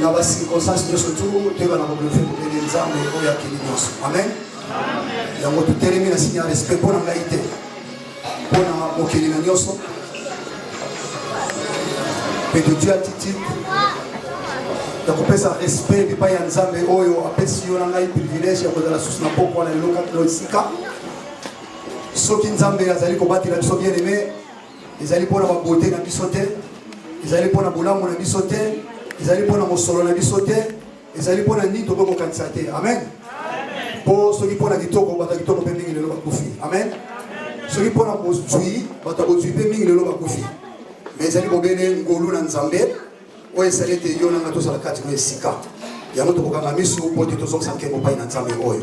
na bacirconstance nyonso tu toyebana koblofe kopele nzambe oyo akeli nyonso amen yango totelemi na sinya respect mpo na ngai te mpo na mokeli na nyonso mpe todui attitude ya kopesa respect epai ya nzambe oyo apesi yo na ngai privilège ya kozala susu na pokwa na elokaki na esika soki nzambe azali kobatela biso bien aime ezali mpo na babote na biso te ezali mpo na bolamu na biso te ezali mpo na mosolo na biso te ezali mpo na nini tokoki kokanisa te amen mpo soki mpo na kitoko bato ya kitoko mpe mingi lelo bakufi amen soki mpo na bozwi bato ya bozwi mpe mingi lelo bakufi ma ezali bobele ngolu na nzambe oyo esali ete yo nanga tozala kati na esika yango tokokanga miso mpo te tozongisa nkembo mpai na nzambe oyo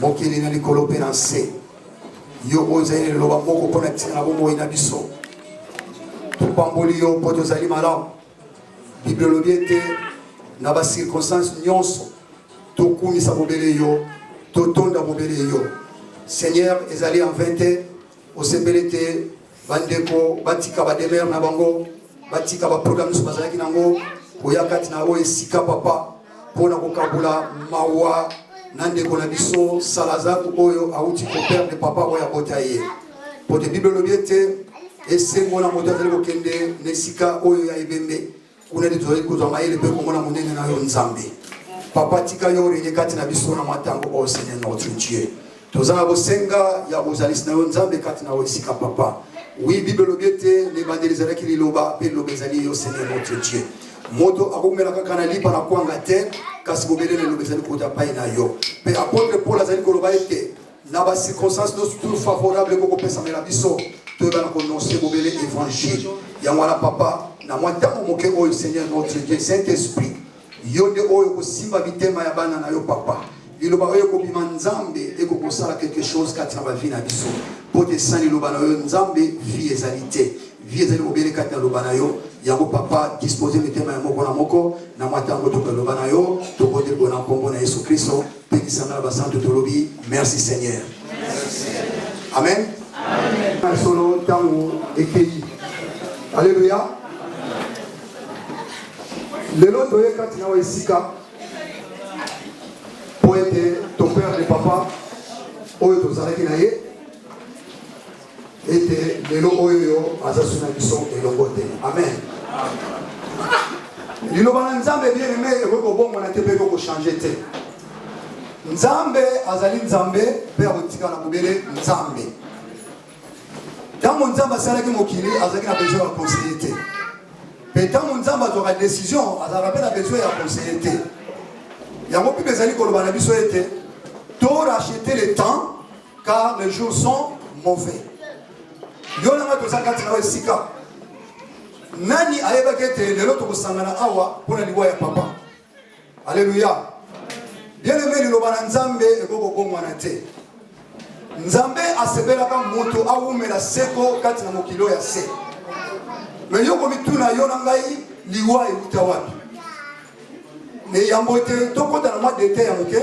mokili na likolo mpe na nse yo oyo ozali na liloba moko mpo na ntina na bomoi na biso topamboli yo mpo tozali malamu bible elobi ete na bacirconstance nyonso tokumisa bobele yo totonda bobele yo seigneur ezali en 20 te osepeli te bandeko batika bademere na bango batika baprogramme nyonso bazalaki nango koya kati na oyo esika papa mpo na kokabola mawa na ndeko na biso salazar oyo awuti koperde papa oyo abota ye mpo te biblia elobi ete esengo na moto azali kokende na esika oyo ya ebembe kuna nde tozali kozwa mayele mpe komona monene na yo nzambe papa tika yo oreye kati na biso na mwa ntango oyo oh, seigneur notre dieu toza na bosenga ya bozalisi na yo nzambe kati na yo esika papa wi bible elobi ete na ebandeli ezalaki liloba mpe liloba ezali yo seigneur notre dieu moto akoumela kaka na lipa na kwanga te kasi bobele na liloba ezali kota pai na yo mpe apotre paul azali koloba ete Na ba circonstances nyonso tout favorable ekoki kopesamela biso toyebana kononse bobele evangile yango wana papa na mwa ntango moke oyo seigneur notre dieu saint esprit yo nde oyo kosimba mitema ya bana na yo papa liloba oyo ekobima nzambe ekoki kosala quelque chose kati na bavi na biso mpo te san liloba na yo nzambe vie ezali te vie ezali bobele kati na loba na yo yango papa dispose mitema ya moko na moko na mwa ntango tokoki loba na yo tobondeli mpona nkombo na yesu kristo Pekisa nga na basantu tolobi merci Seigneur. Amen. Amen. Solo ntango ekeyi. Alléluia. Lelo toye kati na esika mpo ete toperde papa oyo tozalaki na ye ete lelo oyo yo aza su na biso elongo te amen liloba na nzambe bien aime ekoki kobongwana te mpe ekoki kochange te nzambe azali nzambe mpe akotikala bobele nzambe ntango nzambe asalaki mokili azalaki na besoin ya conseille te mpe ntango nzambe azwaka décision azalaka mpe na besoin ya conseille te yango mpe ezali koloba na biso ete to rachete le temps car les jours sont mauvais yo nanga toza kati na esika nani ayebaki ete lelo tokosangana awa mpo na liwa ya papa aleluya bieneme liloba na nzambe ekoki kobongwana te nzambe asepelaka moto awumela seko kati na mokili oyo ya se me yo komituna yo na ngai liwa euta wapi me yambo te tokota na mwa dete ya moke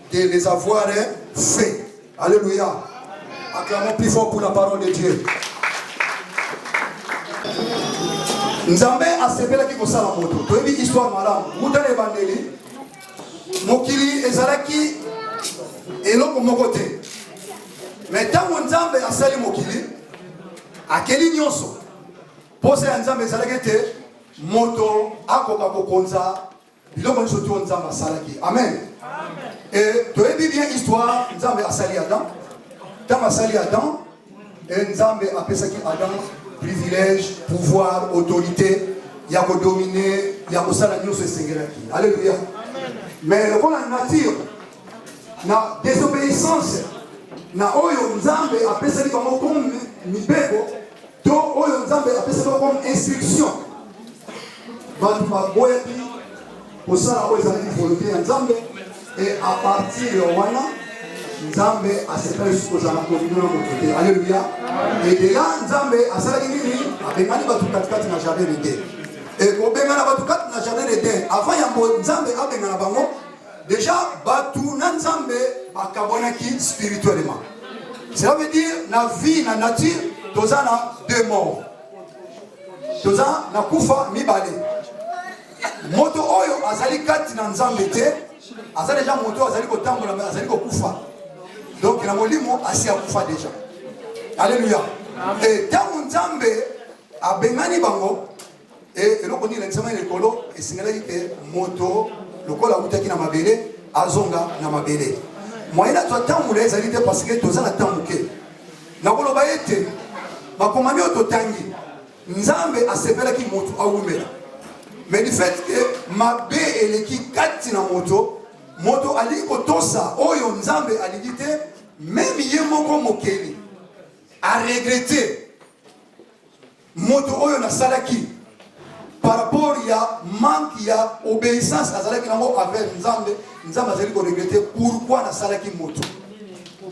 de les avoir fait. Alléluia. Acclamons plus fort pour la parole de Dieu. nzambe asepelaki kosala moto toyebi histoire malamu uta na ebandeli mokili ezalaki eloko moko te me ntango nzambe asali mokili akeli nyonso mposa ya nzambe ezalaki ete moto akoka kokonza biloko nyonso to nzambe asalaki amen e toyebi bien histoire nzambe asali adam ntango asali adam e nzambe apesaki adam privilège pouvoir autorité ya kodomine ya kosala nyonso esengelaki alleluya mais lokola nature na désobéissance na oyo nzambe apesaki bango comme mibeko To oyo Nzambe apesa bango comme instruction. Bato baboyaki kosala oyo ezalaki volonté ya Nzambe et à partir ya wana Nzambe asepela lisusu kozala na kominio na moto te. Alléluia. Et de là Nzambe asalaki nini? Abengani bato katikati na jardin d'Eden. Et kobengana bato kati na jardin d'Eden avant yambo Nzambe abengana bango Deja batu na Nzambe bakabwanaki spirituellement. Cela veut dire na vie na nature toza na deux morts. Toza na kufa mibale. Moto oyo azali kati na Nzambe te, aza deja moto oyo azali kotambola mais azali kokufa. Donc na molimo asi akufa deja. Alléluia. Et ntango Nzambe abengani bango E, eloko nini elakisama likolo esengelaki te moto lokola awutaki na mabele azonga na mabele moyen azwa ntango molai ezali te parce que toza na ntango moke nakoloba ete makomami oyo totangi nzambe asepelaki moto awumela mais du fait ke mabe eleki kati na moto moto alingi kotosa oyo nzambe alingi te meme ye moko mokeli aregrete Moto oyo nasalaki par rapport ya manque ya obéissance nazalaki nango envers Nzambe, Nzambe azali ko regretter pourquoi nasalaki moto.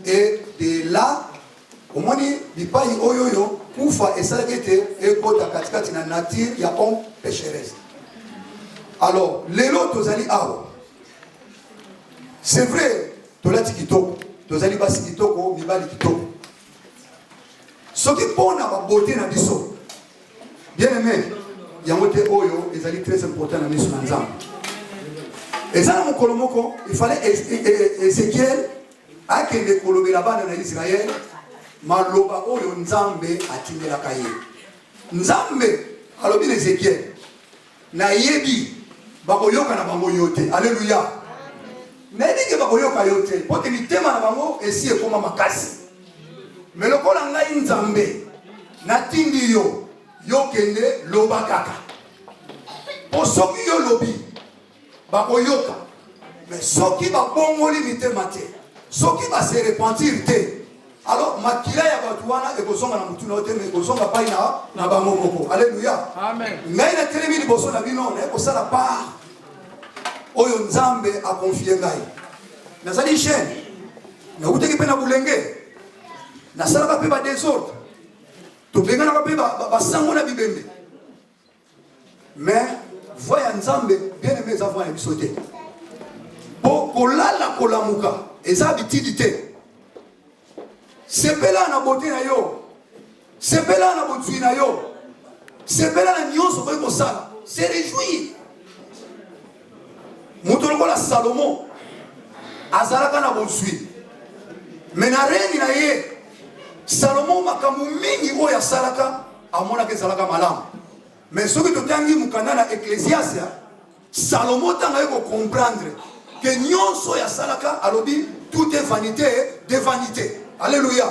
Et de là omoni bipai oyo oyo kufa esalaki ete ekota katikati na nature ya homme pécheresse. Alors lelo tozali awa, c'est vrai tolati kitoko, tozali basi kitoko, mibali kitoko soki mpo na babote na biso bien aimé yango te oyo ezali très important na miso na nzambe eza na mokolo moko ifale ezekiel akende kolobela bana na israele maloba oyo nzambe atindelaka ye nzambe alobi na ezekiel Na yebi ba ko yoka na bango yo te. Alleluia. Na yebi ke ba ko yoka yo te. Po te mitema na bango esi ekoma makasi. Me lokola ngai Nzambe na tindi yo, yo kende loba kaka. Po soki yo lobi. bakoyoka me soki babongoli mitema te soki base repentir te alors makila ya bato wana ekozonga na motuna oyo te me ekozonga pai na, na bango moko aleluya ngai natelemi liboso na bino naye kosala part oyo nzambe akonfie ngai nazali jeune nautaki mpe na bolenge nasalaka mpe badesordre tobenganaka mpe basango na bibembe Mais voix ya Nzambe bien aimé eza voix na biso te. Po kolala kolamuka eza habitude te. Sepela na beauté na yo. Sepela na bozwi na yo. Sepela na nyonso okoki kosala. Se réjouir. Moto lokola Salomon azalaka na bozwi. Mais na règne na ye Salomon makambo mingi oyo asalaka amonaka ezalaka malamu me soki totangi mokanda na eklesiasia salomo ntango aye kocomprendre ke nyonso oyo asalaka alobi tout est vanité de vanité alleluya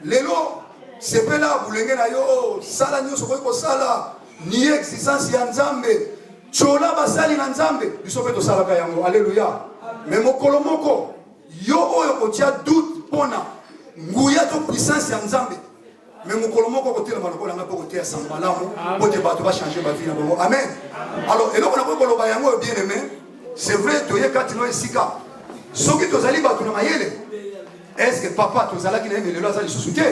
lelo sepela bulenge na yo sala nyonso okoki kosala ni existence ya nzambe tyola basali na nzambe biso mpe tosalaka yango alleluya me mokolo moko yo oyo kotya doute mpona nguya to puissance ya nzambe me mokolo moko kotelema lokola ngai mpo koteya sango malamu mpo te bato bachange bavi na bango amen alors eloko nakoki koloba yango oyo bien aimé c'est vrai toye kati no esika soki tozali bato na mayele estce papa tozalaki na ye melelo aza lisusu te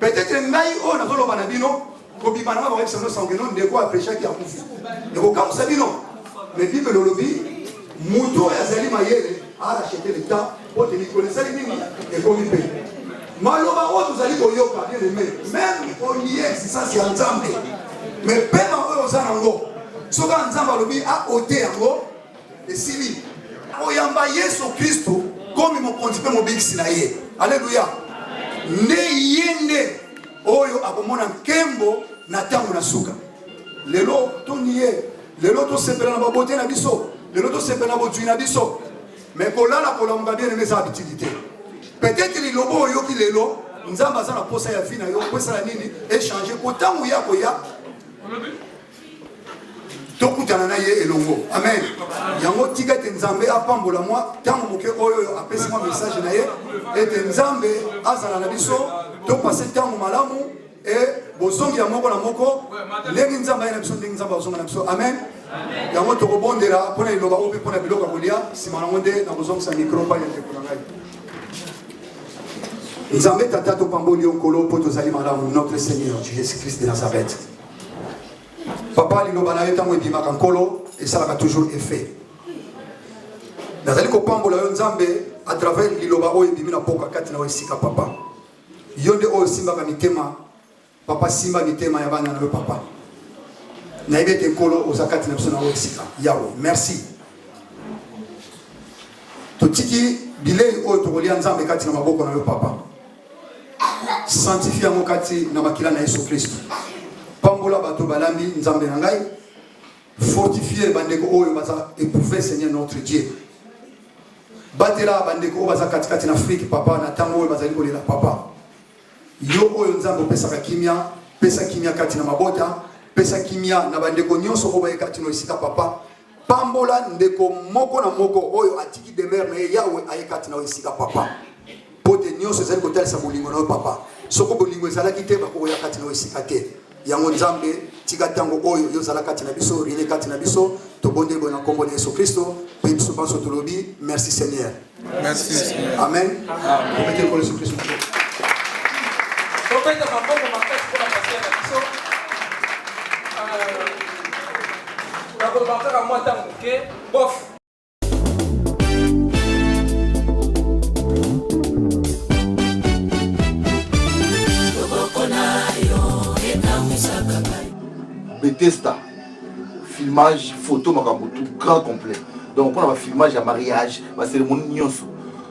peut-être ngai oyo nazoloba na bino kobima na ngai bakobisa bino sango keno ndeko aprechaki akufi ekokamwisa bino me bibele olobi moto oyo azali mayele arachete le temps Mpo te mikolo esali nini? Ekomi mpe. Maloba oyo tozali koyoka, bien aime, meme olie existence ya Nzambe, mais pema oyo oza nango, soki kaka Nzambe alobi aote yango, esili. Oyamba Yesu Kristo komi mokonzi mpe mobikisi na ye. Aleluya! Nde ye nde oyo akomona nkembo na ntango na suka. Lelo toni ye, lelo tosepela na babote na biso, lelo tosepela na bozwi na biso. mais kolala kolamuka bien aime eza habitude te peut-être liloba oyoki lelo nzambe aza na posa ya vie na yo opesala nini echange po ntango ye akoya tokutana na ye elongo amen yango tika ete nzambe apambola mwa ntango moke oyo apesi mwa message na ye ete nzambe azala na biso topase ntango malamu e bozongi ya moko na moko ndenge nzambe aye na biso ndenge nzambe azonga na biso amen yango tokobondela mpo na liloba oyo mpe mpo na biloko ya kolia nsima nango nde nakozongisa mikro mpai ya ndeko na ngai nzambe tata topamboli yo nkolo mpo tozali malamu notre seigneur jesus christ de nazareth papa liloba na yo ntango ebimaka nkolo esalaka toujours effet nazali kopambola yo nzambe à travers liloba oyo ebimi na mboka kati na oyo esika papa Yo nde oyo osimbaka mitema papa, simba mitema ya bana na yo papa. Nayebi ete nkolo oza kati na biso na oyo esika yawe, merci. Totiki bilei oyo tokolia Nzambe kati na maboko na yo papa, sanctifie yango kati na makila na Yesu Kristo. Pambola bato balambi Nzambe na ngai. Fortifier bandeko oyo baza éprouver Seigneur notre Dieu. Batela bandeko oyo baza katikati na Afrique papa na tango oyo bazali kolela papa. Yo oyo Nzambe opesaka kimia, pesa kimia kati na mabota, pesa kimia na bandeko nyonso oyo bayekati na esika papa. Pambola ndeko moko na moko oyo atiki demeure na ye Yahweh ayekati na esika papa. Mpo te nionso ezali kotalisa bolingo na yo, Papa. Soko bolingo ezalaki te, bakoki koya kati na yo esika te. Yango Nzambe, tika tango oyo yo zala kati na biso, reine kati na biso. Tobondeli boye na nkombo na Yesu Kristo, mpe biso banso tolobi merci Seigneur. Merci Seigneur. Amen. Komete nkolo Yesu Kristo. Tobeta maboko makasi mpo na pasteur na biso. Nakolobaka kaka mwa ntango moke, bof. Bethesda filmage photo makambo tout grand complet donc mpona bafilmage ya mariage baceremonie nyonso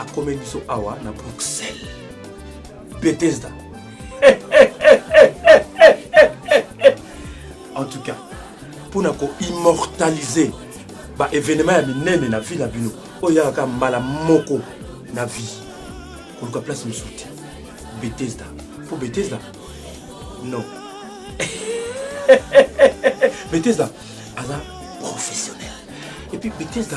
akome biso awa na bruxelles bethesda en tout cas mpo na koimmortalise baévénement ya minene na vie na bino oyo eyaka kaka mbala moko na vie koluka place mosusu te bethesda mpo bethesda non bethesda aza professionnel epuis bethesda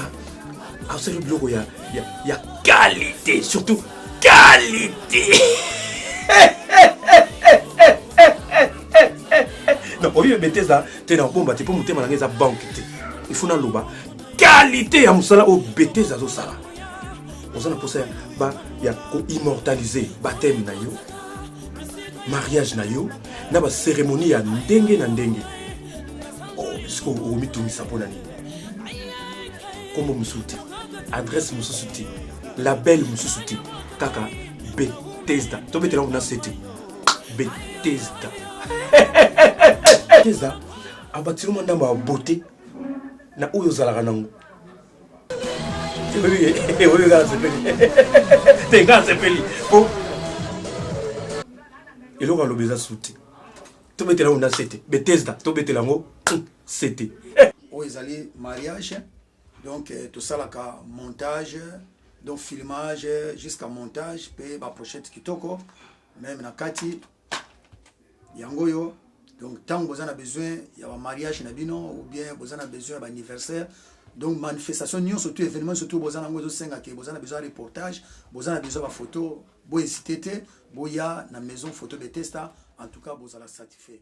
asali biloko ya, ya, ya qualité surtout qualité donc oyo ebeteza te na kobomba te mpo motema na ngai eza banke te ifo naloba qualité ya mosala oyo beteza azosala oza na mposa ya koimmortalize bateme na yo mariage na yo na baceremonie ya ndenge na ndenge oh, sikoyo okomitungisa mpo na nini kombo mosusu te adresse mosusu te label mosusu te kaka betesda tobetela kuna se te betesda betesda abatiri mwa ndambo ya bote na oyo ozalaka nango oyo nga nasepeli te nga nasepeli po eloko alobi eza su te tobetela ngo na se te betesda tobetela yango CT. Eh! Oyo ezali mariage donc eh, tosalaka montage donc filmage jusqu'à montage pe ba pochette kitoko meme na kati yango oyo donc ntango boza na besoin ya bamariage na bino ou bien boza na besoin ya baanniversaire donc manifestation nyonso to événement nyonso to boza nango ezosenga ke boza na besoin ya reportage boza na besoin ya bafoto bohésite te boya na maison photo de testa en tout cas bozala satisfait